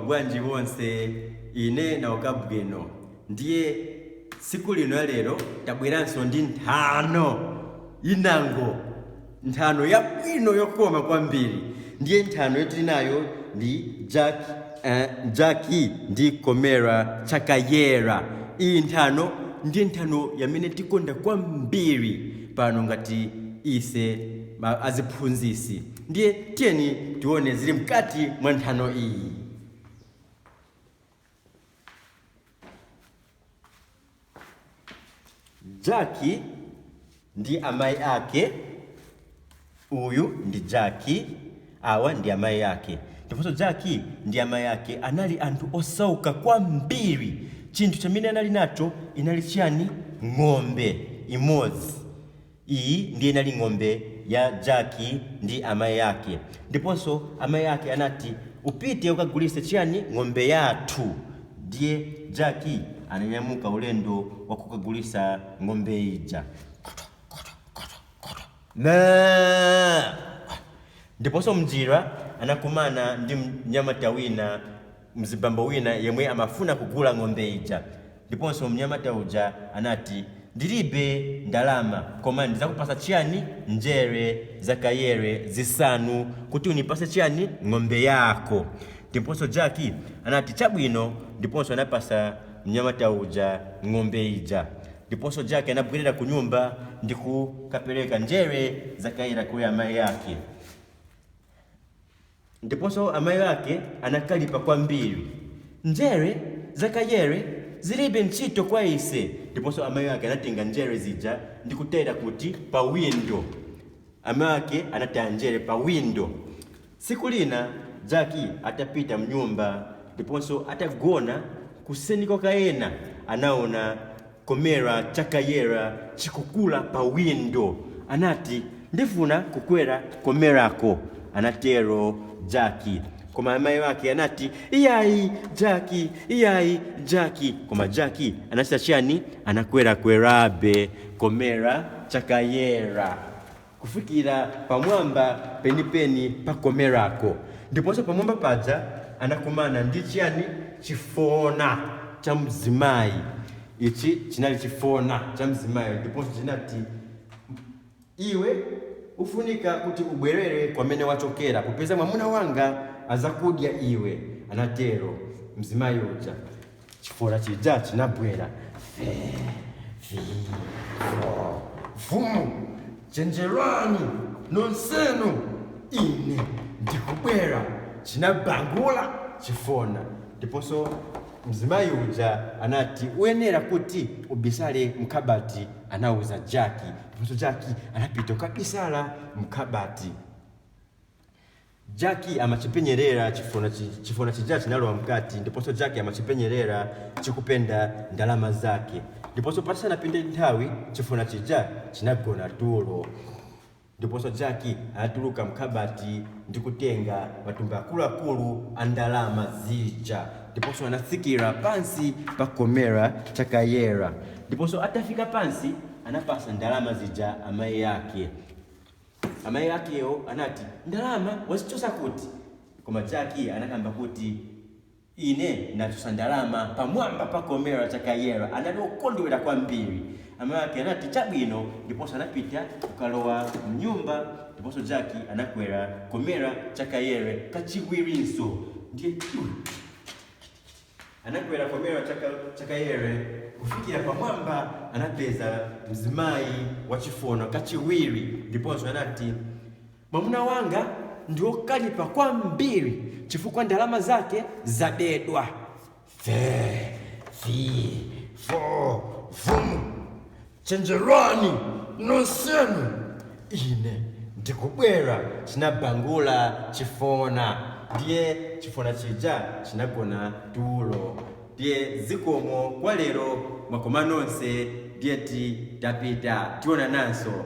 bwanji wonse ine nauka bwino ndiye tsiku lino ya lero tabweranso ndi nthano inango nthano yabwino yokoma kwambiri ndiye nthano yomwe tili nayo ndi Ja- Jaki ndi komera chakayera iyi nthano ndi nthano yamene tikonda kwambiri pano ngati ise ma- aziphunzisi Ndiye tiyeni tione zili mkati mwa nthano iyi. Jaki ndi amayi ake, uyu ndi Jaki, awa ndi amayi ake. Ndiponso Jaki ndi amayi ake anali anthu osauka kwambiri. Chinthu chimene anali nacho inali chiyani? Ng'ombe imodzi. Iyi ndiye inali ng'ombe ya Jaki ndi amai ake. Ndiponso amai ake anati, Upite ukagulitse chiyani? Ng'ombe yathu. Ndiye Jaki ananyamuka ulendo wa kukagulitsa ng'ombe ija. Ndiponso m'njira anakumana ndi mnyamata wina. mzibambo wina yemwe amafuna kugula ng'ombe ija ndiponso mnyamata uja anati ndilibe ndalama koma ndizakupasa chiyani njere za kayera zisanu kuti unipase chiyani ng'ombe yako ndiponso jaki anati chabwino ndiponso anapasa mnyamata uja ng'ombe ija ndiponso jaki anabwerera ku nyumba ndi kukapereka njere za kayera kwa amayi ake Ndiponso amayi ake anakalipa kwambiri. Njere za kayera zilibe ntchito kwa ise! Ndiponso amayi ake anatenga njere zija ndi kutayira kuti? Pa windo. Amayi ake anataya njere pa windo. Tsiku lina Jaki atapita mnyumba ndiponso atagona kuseni kwake ena anaona. Komera chakayera chikukula pa windo. Anati, Ndifuna kukwera komerako, anatero Jaki. Koma amayi ake anati, Iyayi, Jaki! Iyayi, Jaki! Koma Jaki anachita chiyani? Anakwerakwerabe komera chakayera. kufikira pamwamba penipeni pa komerako, ndiponso pamwamba paja anakumana ndi chiyani? Chifona cha mzimayi. Ichi chinali chifona cha mzimayi ndiponso chinati, Iwe ufunika kuti ubwerere kwamene wachokera, popeza mwamuna wanga azakudya iwe, anatero mzimayi uja. chifona chija chinabwera Fee, fee, fo, fum chenjerani nonsenu ine ndikubwera chinabangula chifona ndiponso mzimayi uja anati uyenera kuti ubisale mkabati anauza jaki ndiponso jaki anapita kukabisala mkabati Jaki amachipenyerera chifona chija chinalowa mkati ndiponso Jaki amachipenyerera chikupenda ndalama zake ndiponso pasanapite nthawi chifona chija chinagona tulo ndiponso Jaki anatuluka mkhabati ndi kutenga matumba akuluakulu a ndalama zija ndiponso anatsikira pansi pa komera cha Kayera ndiponso atafika pansi anapatsa ndalama zija amayi ake. Amai akewo anati, Ndalama wazichotsa kuti? Koma Jaki anakamba kuti, Ine nachotsa ndalama pamwamba pa komera cha Kayera. Anali okondwera kwambiri. Amai ake anati, Chabwino, ndiponso anapita kukalowa mnyumba. Ndiponso Jaki anakwera komera cha Kayera kachiwirinso. Ndiye, Anakwera komera cha Kayera kufikira pamwamba anapeza mzimayi wachifona kachiwiri ndiponso anati, Mwamuna wanga ndi wokalipa kwambiri chifukwa ndalama zake zabedwa. Fe, fi, fo, fum. Chenjerani nonsenu, ine ndikubwera! chinabangula chifona. Ndiye chifona chija chinagona tulo. Ndiye zikomo kwa lero, mwakoma nonse, ndiye ti tapita, tionananso.